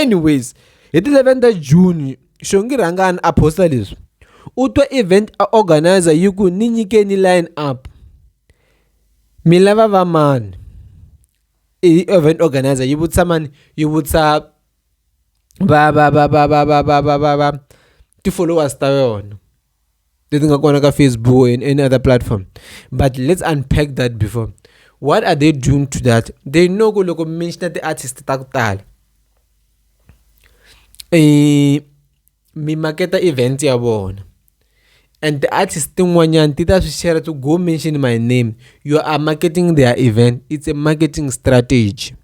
anyways hi ti 11 ta june xongi rhangani a posta leswi u twa event a organizer yi ku ni nyikeni line up mi lava va mani i event organizer yi vutisa mani yi vutisa va va va va va va va va va va ti-followers ta yona leti nga kona ka facebook and any other platform but let's unpack that before what are they doing to that they know ku loko mention ti-artist ta ku tala um mi maketa event ya vona and the artist tin'wanyani ti ta swi share to go mention my name you are marketing their event it's a marketing strategy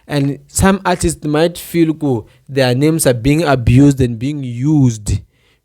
and some artists might feel ku their names are being abused and being used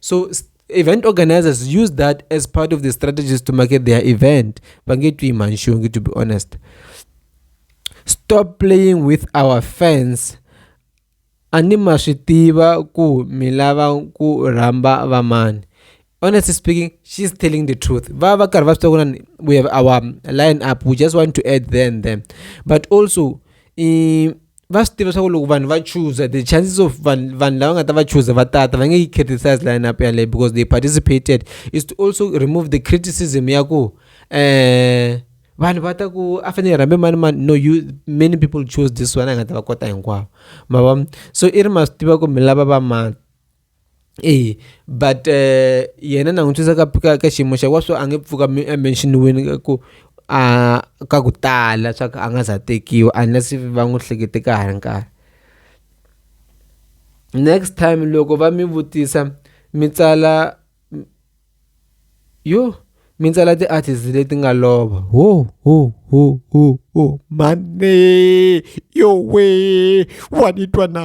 so event organizers use that as part of the strategies to market their event bangetwi manshungi to be honest stop playing with our fans a ni ma swi tiva ku mi lava ku rhamba vamani honestly speaking she's telling the truth va va karhi va swi tiva ku we have our line up we just want to add then them but also i va swi tiva swa ku loko vanhu va chooser the chances of vanhu vanhu lava nga ta va chooser va tata va nge yi criticize line up yaleyo because they participated is to also remove the criticism ya ku um vanhu va ta ku a fanele rhambe mani mani no you many people choose this one a nga ta va kota hinkwavo ma va so i ri ma swi tiva ku mi lava va mani eya but yena na n'wi twisa ka ka ka xiyimo xa wena so a nge pfuki a mention-iwile ka ku a ka ku tala swa ku a nga se za a tekiwa unless if va n'wi hlekete ka ha ri nkarhi. Next time loko va mi vutisa mi tsala yo mi tsala ti-artist leti nga lova ho ho ho ho ho mhani yowee wa ni twa na.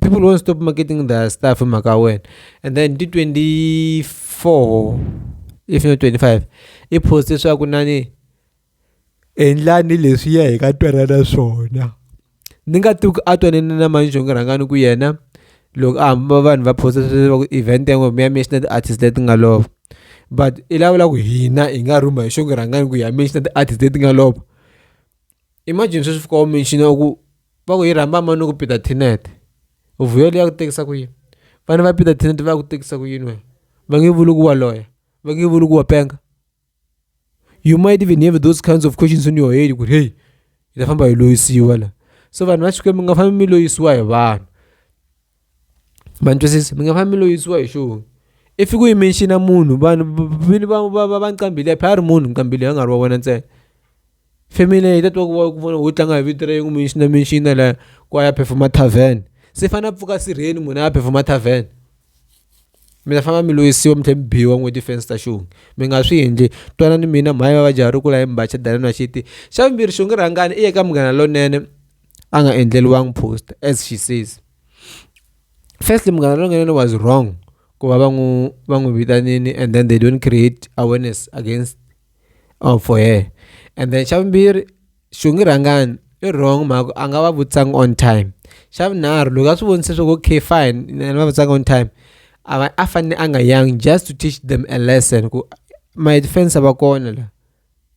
people won't stop marketing their stuff in Makawen. And then di 24, if not 25, i post leswaku nani endlani leswi ya hi ka twanana swona ni nga tivi ku a twanene na mani xonge rhangani ku yena loko a hamba vanhu va posta leswaku event yan'we mi ya mi ya xina ti-artist leti nga lova but i lavula ku hina hi nga rhuma hi xonge rhangani ku hi ya mi ya xina ti-artist leti nga lova Imagine sweswi fika u mention u ku va ku yi rhamba mani ni ku Peter Tinet u vuyo liya ku tekisa ku yini vana va Peter Tinet va ku tekisa ku yini wena va nge vuli ku wa loya va nge vuli ku wa penga you might even have those kinds of questions in your head ku ri heyi hi ta famba hi loyisiwa la so vanhu va Xikwembu mi nga fambi mi loyisiwa hi vanhu. Ma ni twisisa mi nga fambi mi lo yisiwa hi xona i fiki u yime ni xina munhu vanhu vini va va va va ni qambile a phela a ri munhu ni qambile a nga ri wa wena ntsena family leyi yi ta twa ku vava ku vona ho tlanga hi vito ra yena ku mi ni xina mi ni xina la ku a ya perform-a tarven se i fanele a pfuka sirheni munhu a ya perform-a tarven mi ta famba mi lo yisiwa mi tlhe mi biwa n'we ti-fans ta xona mi nga swi endli twanani mina mhani va va jaha ri kula hi mbaxa danani va xiti xa vumbirhi xonga rhangani i ya ka Munghana Lonene. a nga endleriwangi post as she says firstly munghana lonene was wrong ku va va n'wi va n'wi vitanile and then they don't create awareness against or for her and then xa vumbirhi xongi rhangani i wrong mhaka a nga va vutisanga on time xa vunharhu loko a swi vonise swa ku okay fine ni va vutisanga on time a va a fanele a nga yangi just to teach them a lesson ku ma defense va kona la.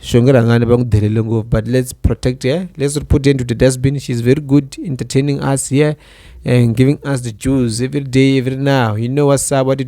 shongwe rangani va n'wi delele ngopfu but let's protect her let's put her into the dustbin she's very good entertaining us here and giving us the jews every day every now you know what's up what